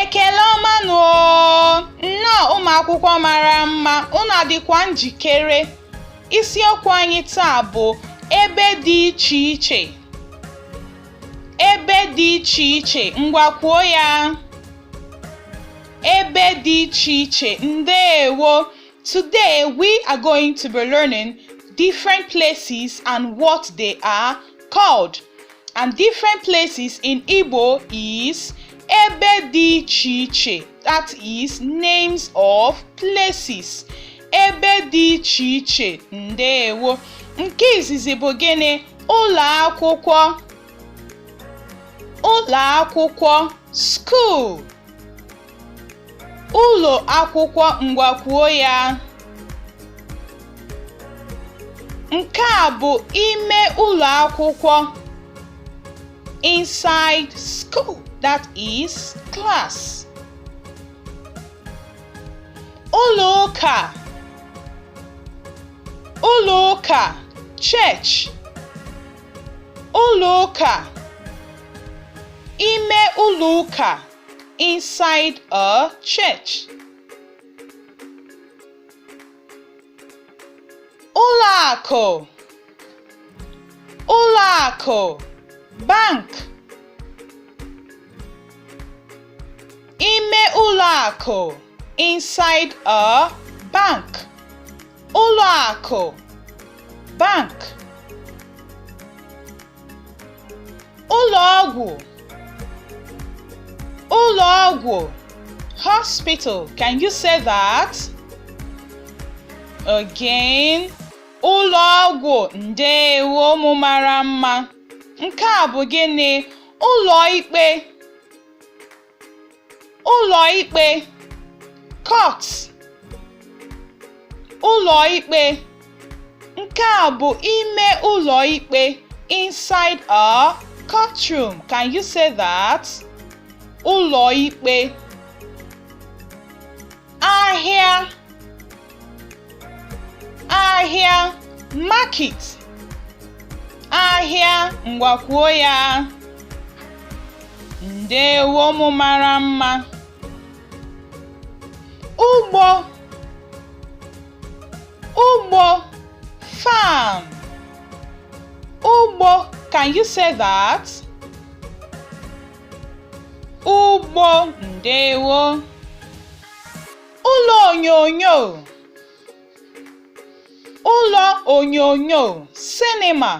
Ekele ọma nụ oo! Nnọọ ụmụ akwụkwọ mara mma, unu adịkwa njikere? Isiokwu anyị taa bụ ebe dị iche iche. Ebe dị iche iche, ngwa kwuo ya! ebe dị iche iche ndewo today we are going to be learning different places and what they are called and different places in Igbo is ebe dị iche iche that is names of places ebe dị iche iche ndewo nke izizi bụ gịnị ụlọ akwụkwọ ụlọ akwụkwọ school Ụlọ akwụkwọ ngwa kwuo ya. Nke a bụ ime ụlọ akwụkwọ inside school that is class. Ụlọ ụka ụlọ ụka church Ụlọ ụka ime ụlọ ụka inside a church. Ụlọ akụ ụlọ akụ bank ime ụlọ akụ inside a bank. ụlọ akụ bank ụlọ ọgwụ ụlọ ọgwụ hospital can you say that again ụlọ ọgwụ ndeewo ụmụ mara mma nke a bụ gịnị ụlọ ikpe ụlọ ikpe court ụlọ ikpe nke a bụ ime ụlọ ikpe inside a courtroom can you say that ụlọ ikpe ahịa ahịa market ahịa ngwa kwuo ya ndewo ụmụ mara mma ugbo ugbo farm ugbo can you say that? Ugbo ndewo ụlọ onyonyo ụlọ onyonyo sinima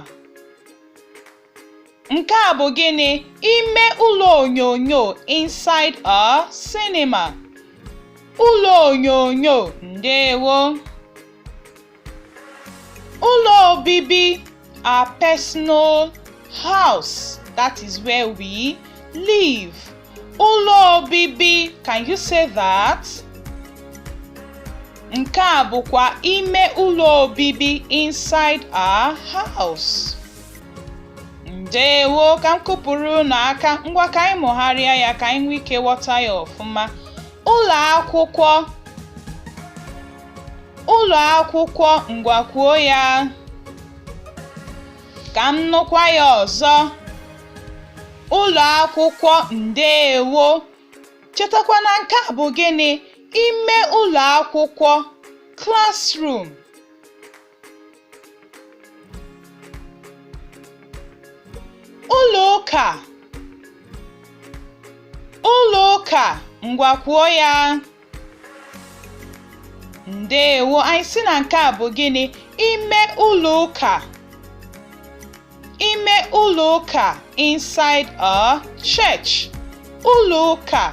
nke a bụ gịnị ime ụlọ onyonyo inside a cinema ụlọ onyonyo ndewo Ụlọ obibi our personal house that is where we live. Ụlọ obibi can you say that? Nke a bụkwa ime ụlọ obibi inside our house. ndewo ka m kụpụrụ unu aka ngwa ka anyị mụgharịa ya ka anyị nwee ike ghọta ya ọfụma ụlọ akwụkwọ Ụlọ akwụkwọ ngwa kwuo ya. Ka m nụkwa ya ọzọ. Ụlọ akwụkwọ ndeewo. Chetakwa na nke a bụ gịnị? Ime ụlọ akwụkwọ, classroom. Ụlọ ụka Ụlọ ụka ngwa kwuo ya ndeewo anyị sị na nke a bụ gịnị ime ụlọ ụka ime ụlọ ụka inside a church ụlọ ụka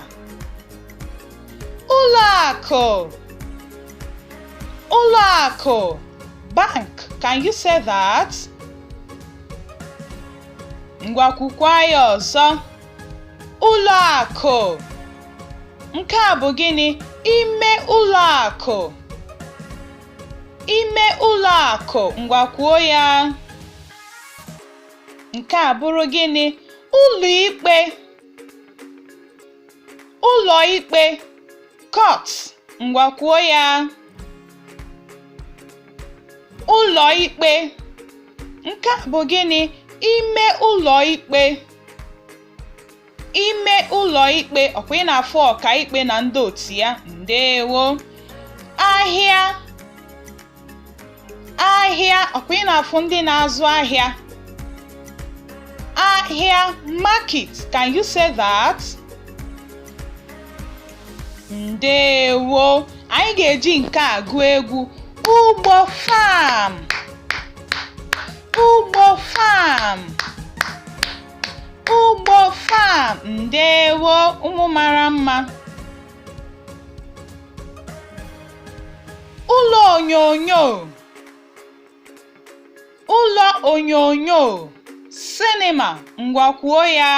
ụlọ akụ ụlọ akụ bank can you say that? ngwa kwukwa ya ọzọ ụlọ akụ nke a bụ gịnị ime ụlọ akụ Ime ụlọ akụ ngwa kwuo ya. Nke a bụrụ gịnị? Ụlọ ikpe ụlọ ikpe court ngwa kwuo ya. Ụlọ ikpe nke a bụ gịnị? Ime ụlọ ikpe ime ụlọ ikpe ọkwa ị na-afụ ọkaikpe na ndị otu ya ndewo ahịa ahịa ọkwa ị na-afụ ndị na-azụ ahịa ahịa market can you say that ndewo anyị ga-eji nke a gụọ egwu ugbo farm ugbo farm ugbo farm ndewo ụmụ mara mma ụlọ onyonyo ụlọ onyonyo cinema ngwa kwuo ya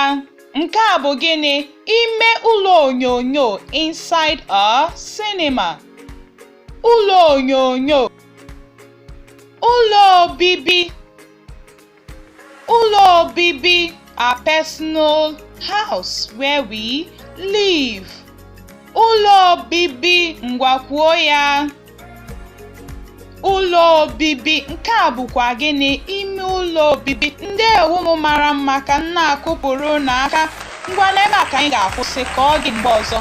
nke a bụ gịnị ime ụlọ onyonyo inside a cinema. ụlọ onyonyo ụlọ obibi Ụlọ obibi a personal house where we live. Ụlọ obibi ngwa kwuo ya. Ụlọ obibi nke a bụkwa gịnị ime ụlọ obibi ndewo ụmụ mara mma ka m na-akụpụrụ unu aka ngwa n'ebe a ka anyị ga-akwụsị ka ọ dị mgbe ọzọ